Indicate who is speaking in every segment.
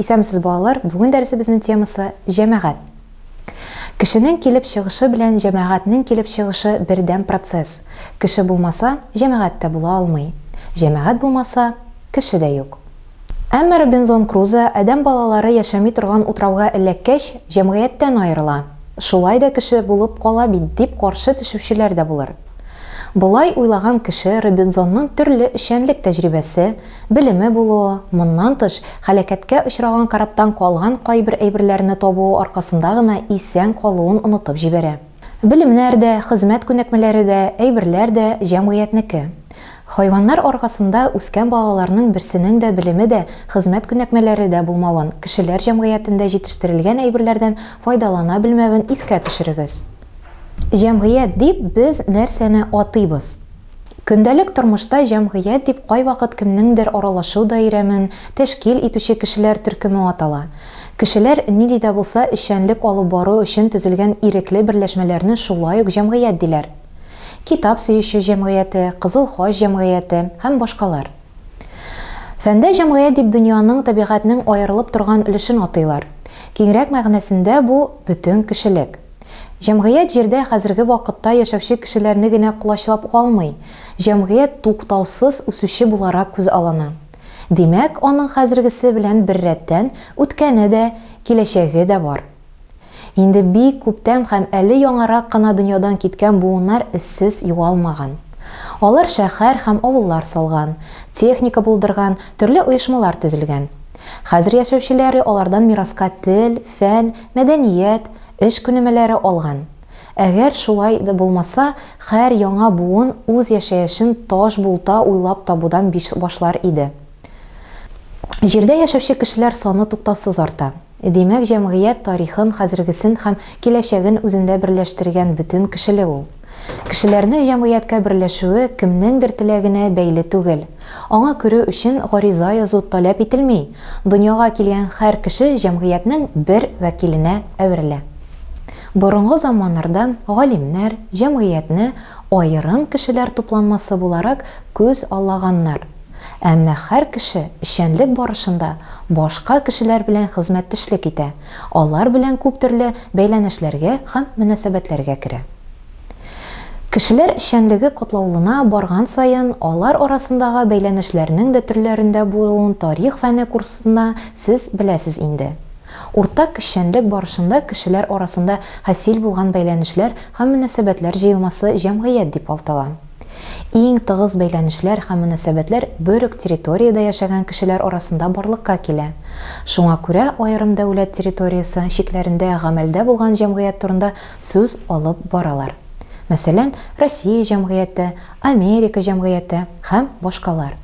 Speaker 1: Исәнмесез балалар, бүген дәресебезнең темасы җәмәгать. Кешенең килеп чыгышы белән җәмәгатьнең килеп чыгышы бердәм процесс. Кеше булмаса, җәмәгать тә була алмый. Җәмәгать булмаса, кеше дә юк. Әмма Робинзон Крузо адәм балалары яшәми торган утрауга эләккәч, җәмгыятьтән аерыла. Шулай да кеше булып кала бит, дип каршы төшүчеләр дә булыр. Болай уйлаган кеше Робинзонның төрле эшчәнлек тәҗрибәсе, Белеме булуы, моннан тыш, һәлакәткә очраган корабтан калган кайбер әйберләрне табуы аркасында гына исән калуын онытып җибәрә. Белемнәр дә, хезмәт күнекмәләре дә, әйберләр дә, җәмгыятьнеке. Хайваннар аркасында үскән балаларның берсенең дә белеме дә, хезмәт күнәкмәләре дә булмавын, кешеләр җәмгыятендә җитештерелгән әйберләрдән файдалана белмәвен искә төшерегез. Җәмгыять дип без нәрсәне атыйбыз? Көндәлек тормышта җәмгыять дип кайвакыт кемнеңдер аралашу даирәмен тәшкил итүче кешеләр төркеме атала. Кешеләр нинди дә булса эшчәнлек алып бару өчен төзелгән ирекле берләшмәләрне шулай ук җәмгыять диләр. Китап сөюче җәмгыяте, Кызыл хач җәмгыяте һәм башкалар. Фәндә җәмгыять дип дөньяның, табигатьнең аерылып торган өлешен атыйлар. Киңрәк мәгънәсендә бу, бөтен кешелек. Җәмгыять җирдә хәзерге вакытта яшәүче кешеләрне генә колачлап калмый, җәмгыять туктаусыз үсүче буларак күзаллана. Димәк, аның хәзергесе белән беррәттән, үткәне дә, киләчәге дә бар. Инде бик күптән һәм әле яңарак кына дөньядан киткән буыннар эзсез югалмаган. Алар шәһәр һәм авыллар салган, техника булдырган, төрле оешмалар төзелгән. Хәзер яшәүчеләре алардан мираска тел, фән, Мәдәният, эш күнемәләре алган. Әгәр шулай да булмаса, хәр яңа буын үз яшәешен таш булта уйлап табудан биш башлар иде. Җирдә яшәүче кешеләр саны туктаусыз арта. Димәк, җәмгыять тарихын, хәзергесен һәм киләчәген үзендә берләштергән бөтен кешелек ул. Кешеләрне җәмгыятькә берләшүе кемнеңдер теләгенә бәйле түгел. Аңа керү өчен гариза язу таләп ителми, дөньяга килгән хәр кеше җәмгыятьнең бер вәкиленә әверелә. Борынгы заманнарда галимнәр җәмгыятьне аерым кешеләр тупланмасы буларак күз аллаганнар. Әмма хәр кеше эшчәнлек барышында башка кешеләр белән хезмәттешлек итә, Алар белән күп төрле бәйләнешләргә һәм мөнәсәбәтләргә керә. Кешеләр эшчәнлеге катлаулына барган саен, алар арасындагы бәйләнешләрнең дә төрләрендә булуын тарих фәне курсында сез беләсез инде. Уртак эшчәнлек барышында кешеләр арасында хасил булган бәйләнешләр һәм мөнәсәбәтләр җыелмасы җәмгыять дип алтала. Иң тыгыз бәйләнешләр һәм мөнәсәбәтләр бер үк территориядә яшәгән кешеләр арасында барлыкка килә. Шуңа күрә аерым дәүләт территориясе чикләрендә гамәлдә булган җәмгыять турында сүз алып баралар. Мәсәлән, Россия җәмгыяте, Америка җәмгыяте һәм башкалар.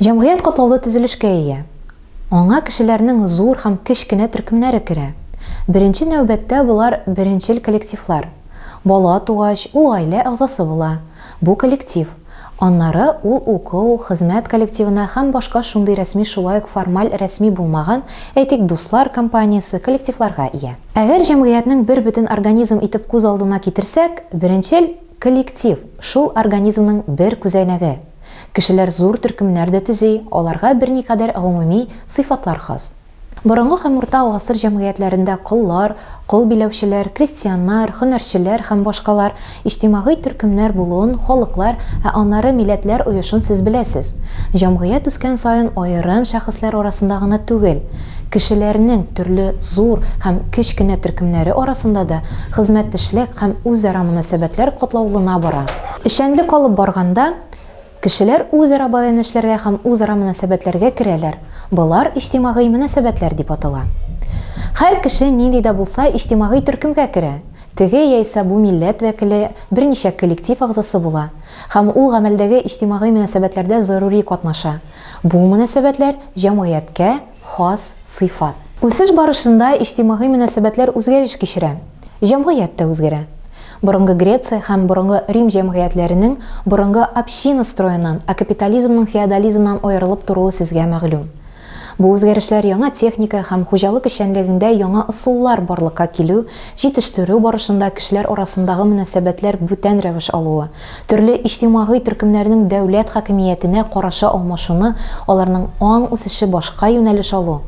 Speaker 1: Җәмгыять катлаулы төзелешкә ия. Аңа кешеләрнең зур һәм кечкенә төркемнәре керә. Беренче нәүбәттә болар беренчел коллективлар. Бала тугач, ул гаилә әгъзасы була. Бу коллектив. Аннары ул уку, хезмәт коллективына һәм башка шундый рәсми шулай ук формаль рәсми булмаган, әйтик, дуслар компаниясе, коллективларга ия. Әгәр җәмгыятьнең бер бөтен организм итеп күз алдына китерсәк, беренчел коллектив, шул организмның бер күзәнәге. Кешеләр зур төркемнәр дә төзи, аларга берникадәр гомуми сыйфатлар хас. Борынгы һәм урта гасыр җәмгыятьләрендә коллар, кол биләүчеләр, крестьяннар, һөнәрчеләр һәм башкалар иҗтимагый төркемнәр булуын халыклар, ә аннары милләтләр оешын сез беләсез. Җәмгыять үскән саен аерым шәхесләр арасында гына түгел, кешеләрнең төрле зур һәм кеч кенә төркемнәре арасында да хезмәттешлек һәм үзара мөнәсәбәтләр катлаулына бара. Эшчәнлек алып барганда, кешеләр үзара бәйләнешләргә һәм үзара мөнәсәбәтләргә керәләр, болар иҗтимагый мөнәсәбәтләр дип атала. Һәр кеше нинди дә булса иҗтимагый төркемгә керә, теге яисә бу милләт вәкиле берничә коллектив әгъзасы була һәм ул гамәлдәге иҗтимагый мөнәсәбәтләрдә зарури катнаша, бу мөнәсәбәтләр җәмгыятькә, хас сыйфат. Үсеш барышында иҗтимагый мөнәсәбәтләр үзгәреш кичерә, җәмгыять тә үзгәрә. Борынгы Греция һәм борынгы Рим җәмгыятьләренең борынгы община строеннан а капитализмның феодализмнан аерылып торуы сезгә мәгълүм. Бу үзгәрешләр яңа техника һәм хуҗалык эшчәнлегеңдә яңа ысуллар барлыкка килү, җитештерү барышында кешеләр арасындагы мөнәсәбәтләр бүтән рәвеш алуы, Төрле иҗтимагый төркемнәрнең дәүләт хакимиятенә карашы алмашуны, аларның аң үсеше башка юнәлеш алу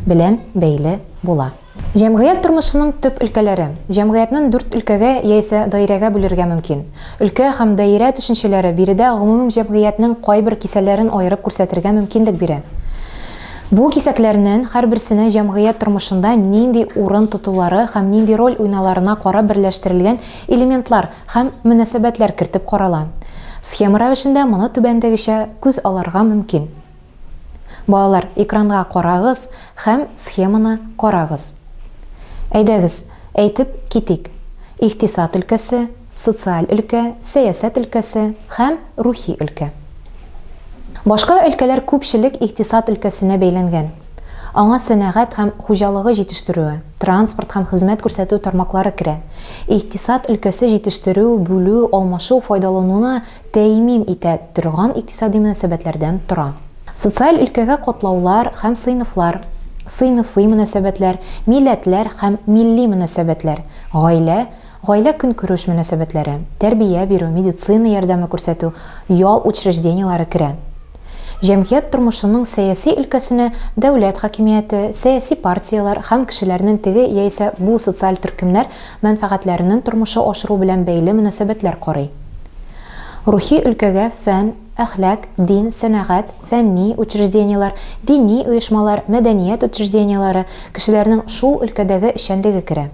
Speaker 1: белән бәйле була. Җәмгыять тормышының төп өлкәләре. Җәмгыятьнен дүрт өлкәгә яисә даирәгә бүлергә мөмкин. Өлкә һәм даирә төшенчәләре биредә гомумем җәмгыятьнең кайбер кисәләрен аерып күрсәтергә мөмкинлек бирә. Бу кисәкләрнен һәрберсенә җәмгыять тормышында нинди урын тотулары һәм нинди роль уйналарына карап берләштерелгән элементлар, һәм мөнәсәбәтләр кертеп карала. Схема рәвешендә моны түбәндәгечә күз алырга мөмкин. Балалар, экранга карагыз һәм схеманы карагыз. Әйдәгез, әйтеп китик, икътисад өлкәсе, социаль өлкә, сәясәт өлкәсе һәм рухи өлкә. Башка өлкәләр күпчелек икътисад өлкәсенә бәйләнгән. Аңа сәнәгать һәм хуҗалыгы җитештерүе, транспорт һәм хезмәт күрсәтү тармаклары керә. Икътисад өлкәсе җитештерү, бүлү, алмашу, файдалануны тәэмим итә торган икътисади мөнәсәбәтләрдән тора. Социаль өлкәгә катлаулар һәм сыйныфлар, сыйныфый мөнәсәбәтләр, милләтләр һәм милли мөнәсәбәтләр, гаилә, гаилә-көнкүреш мөнәсәбәтләре, тәрбия бирү, медицина ярдәме күрсәтү, ял учреждениеләре керә. Җәмгыять тормышының сәяси өлкәсенә дәүләт хакимияте, сәяси партияләр һәм кешеләрнең теге яисә бу социаль төркемнәр мәнфәгатьләренен тормышы ашыру белән бәйле мөнәсәбәтләр карый. Рухи өлкәгә фән, әхлак, дин, сәнәгать, фәнни учреждениеләр, дини оешмалар, мәдәният учреждениеләре, кешеләрнең шул өлкәдәге эшчәнлеге керә.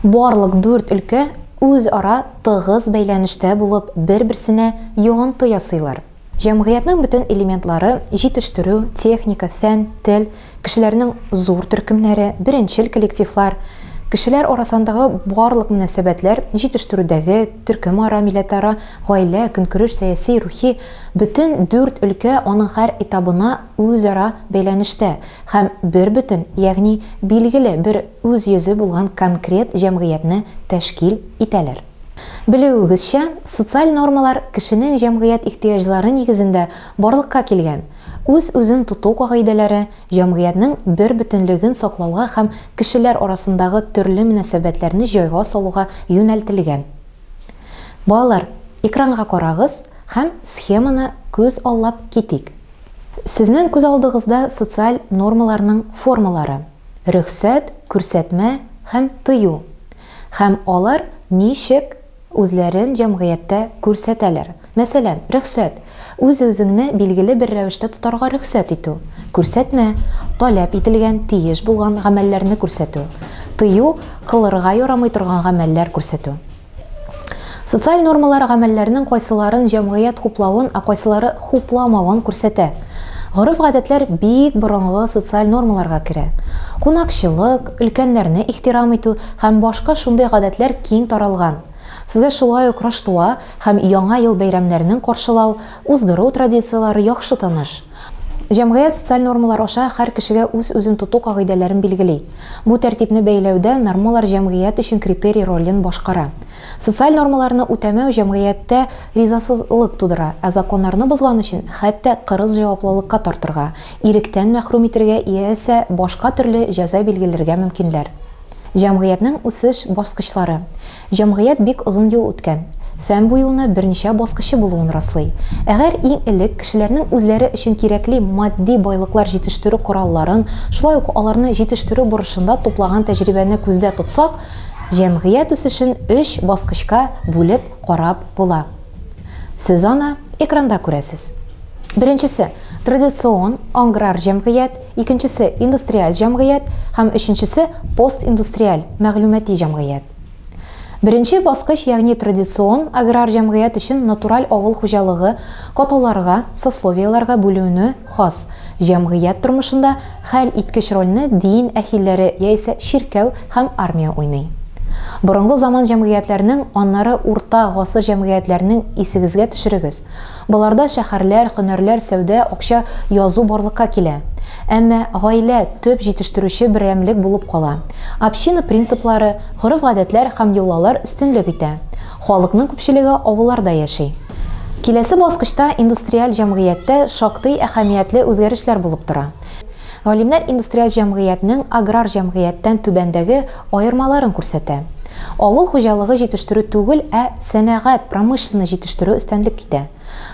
Speaker 1: Барлык дүрт өлкә үзара тыгыз бәйләнештә булып, бер-берсенә йогынты ясыйлар. Җәмгыятьнең бөтен элементлары, җитештерү, техника, фән, тел, кешеләрнең зур төркемнәре, беренчел коллективлар, кешеләр арасандагы барлык мөнәсәбәтләр, җитештерүдәге, төркемара, милләтара, гаилә, көнкүреш, сәяси, рухи, бөтен дүрт өлкә аның һәр этабына, үзара бәйләнештә һәм бербөтен, ягъни билгеле бер үз йөзе булган конкрет җәмгыятьне тәшкил итәләр. Белүегезчә, социаль нормалар кешенең җәмгыять ихтыяҗлары нигезендә барлыкка килгән, үз-үзен тоту кагыйдәләре, җәмгыятьнең бербөтенлеген саклауга һәм кешеләр арасындагы төрле мөнәсәбәтләрне җайга салуга юнәлтелгән. Балалар, экранга карагыз һәм схеманы күз аллап китик. Сезнең күз алдыгызда социаль нормаларның формалары, рөхсәт, күрсәтмә һәм тыю, һәм алар ничек үзләрен җәмгыятьтә күрсәтәләр. Мәсәлән, рөхсәт, үз-үзеңне билгеле бер рәвештә тотарга рөхсәт итү. Күрсәтмә, таләп ителгән, тиеш булган гамәлләрне күрсәтү. Тыю, кылырга ярамый торган гамәлләр күрсәтү. Социаль нормалар гамәлләрнең кайсыларын җәмгыять хуплавын, ә кайсылары хупламавын күрсәтә. Гореф-гадәтләр бик борынгы социаль нормаларга керә. Кунакчылык, өлкәннәрне ихтирам итү һәм башка шундый гадәтләр киң таралган. Сезгә шулай ук Раштуа һәм Яңа ел бәйрәмнәрнең каршылау, уздыру традицияләре яхшы таныш. Җәмгыять социаль нормалар аша һәр кешегә үз-үзен тоту кагыйдәләрен билгели. Бу тәртипне бәяләүдә нормалар җәмгыять өчен критерий ролен башкара. Социаль нормаларны үтәмәү җәмгыятьтә ризасызлык тудыра, ә законнарны бозган өчен хәтта кырыс җаваплылыкка тартырга, иректән мәхрүм итергә яисә башка төрле җәза билгеләргә мөмкинләр. Җәмгыятьнең үсеш баскычлары. Җәмгыять бик озын юл үткән. Фән бу юлны берничә баскычы булуын раслый. Әгәр иң элек кешеләрнең үзләре өчен кирәкли матди байлыклар җитештерү коралларын, шулай ук аларны җитештерү бурычында туплаган тәҗрибәне күздә тотсак, җәмгыять үсешен өч баскычка бүлеп карап була. Сез аны экранда күрәсез. Беренчесе, традицион аграр җәмгыять. Икенчесе, индустриаль җәмгыять һәм өченчесе, постиндустриаль, мәгълүмати җәмгыять. Беренче баскыч, ягъни традицион аграр җәмгыять өчен натураль авыл хуҗалыгы каталарга, сословиеләргә бүлүне хас, җәмгыять тормышында хәл иткеч рольне дин әһилләре яисә чиркәү һәм армия уйный. Борынгы заман җәмгыятьләрнең, аннары урта гасыр җәмгыятьләрнең исегезгә төшерегез, Боларда шәһәрләр, һөнәрләр, сәүдә, акча, язу барлыкка килә. Әмма гаилә, төп җитештерүче берәмлек булып кала. Община принциплары, гореф-гадәтләр һәм йолалар өстенлек итә. Халыкның күпчелеге авылларда яши. Киләсе баскычта индустриаль җәмгыятьтә шактый әһәмиятле үзгәрешләр булып тора. Галимнәр индустриаль җәмгыятьнең аграр җәмгыятьтән түбәндәге Аермаларын күрсәтә. Авыл хуҗалыгы җитештерү түгел, ә сәнәгать, промышленность җитештерү өстенлек китә.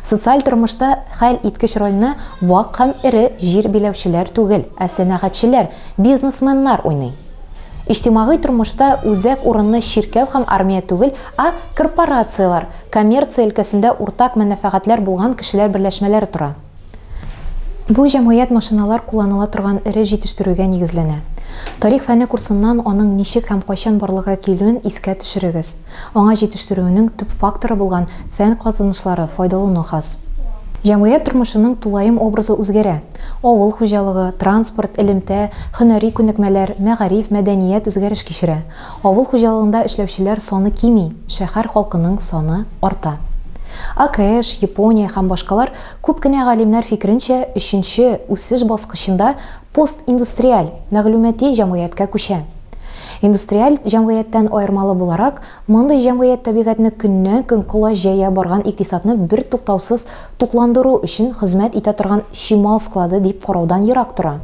Speaker 1: Социаль тормышта хәл иткеч рольне вак һәм эре җир биләүчеләр түгел, ә сәнәгатьчеләр, бизнесменнар уйный. Иҗтимагый тормышта үзәк урынны чиркәү һәм армия түгел, а корпорацияләр, коммерция өлкәсендә уртак мәнәфәгатьләр булган кешеләр берләшмәләре тора. Бу җәмгыять машиналар кулланыла торган эре җитештерүгә нигезләнә. Тарих фәне курсыннан аның ничек һәм кайчан барлыкка килүен искә төшерегез. Аңа җитештерүенең төп факторы булган фән казанышлары файдалану хас. Җәмгыять тормышының тулаем образы үзгәрә. Авыл хуҗалыгы, транспорт, элемтә, һөнәри күнекмәләр, мәгариф, мәдәният үзгәреш кичерә. Авыл хуҗалыгында эшләүчеләр саны кими, шәһәр халкының саны арта. АКШ, Япония һәм башкалар күп кенә галимнәр фикеренчә, өченче үсеш баскычында постиндустриаль, мәгълүмати җәмгыятькә күчә. Индустриаль җәмгыятьтән аермалы буларак, мондый җәмгыять табигатьне көннән-көн колач җәя барган икътисадны бертуктаусыз тукландыру өчен хезмәт итә торган чимал склады дип караудан ерак тора.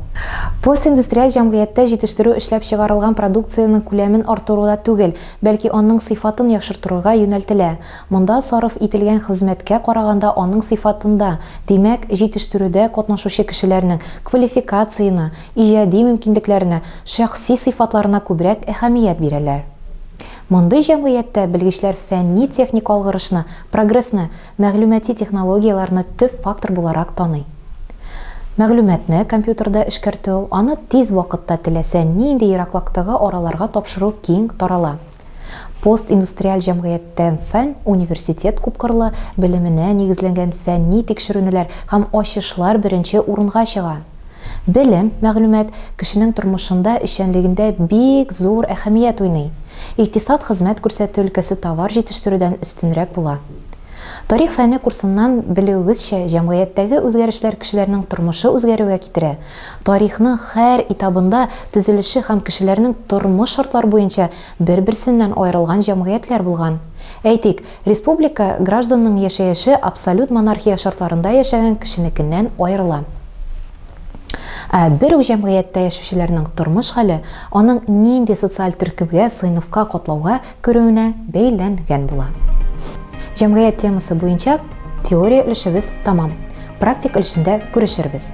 Speaker 1: Постиндустриаль җәмгыятьтә җитештерү эшләп чыгарылган продукциянең күләмен арттыруда түгел, бәлки аның сыйфатын яхшыртырырга юнәлтелә. Монда сарыф ителгән хезмәткә караганда аның сыйфатында, димәк, җитештерүдә катнашучы кешеләрнең квалификацияна, иҗади мөмкинлекләренә, шәхси сыйфатларына күбрәк әһәмият бирәләр. Мондый җәмгыятьтә белгечләр фәнни-техник алгырышны, прогрессны, Мәгълүмати технологияләрне төп фактор буларак таный. Мәгълүматны компьютерда эшкәртү, аны тиз вакытта теләсә нинди ераклыктагы араларга тапшыру киң тарала. Постиндустриаль җәмгыятьтә фән университет күпкырлы белеменә нигезләнгән фәнни тикшеренүләр һәм ачышлар беренче урынга чыга. Белем, мәгълүмат кешенең тормышында, эшчәнлегендә бик зур әһәмият уйный. Икътисад хезмәт күрсәтү өлкәсе товар җитештерүдән өстенрәк була. Тарих фәне курсыннан белүегезчә, җәмгыятьтәге үзгәрешләр кешеләрнең тормышы үзгәрүгә китерә. Тарихның хәр этабында төзелеше һәм кешеләрнең тормыш шартлар буенча бер-берсеннән аерылган җәмгыятьләр булган. Әйтик, республика гражданының яшәеше абсолют монархия шартларында яшәгән кешенекеннән аерыла. Ә бер үк җәмгыятьтә яшүчеләрнең тормыш хәле аның нинди социаль төркемгә, сыйныфка, катлауга күрүенә бәйләнгән була. Җәмгыять темасы буенча теория өлешебез тамам. Практик өлешендә күрешербез.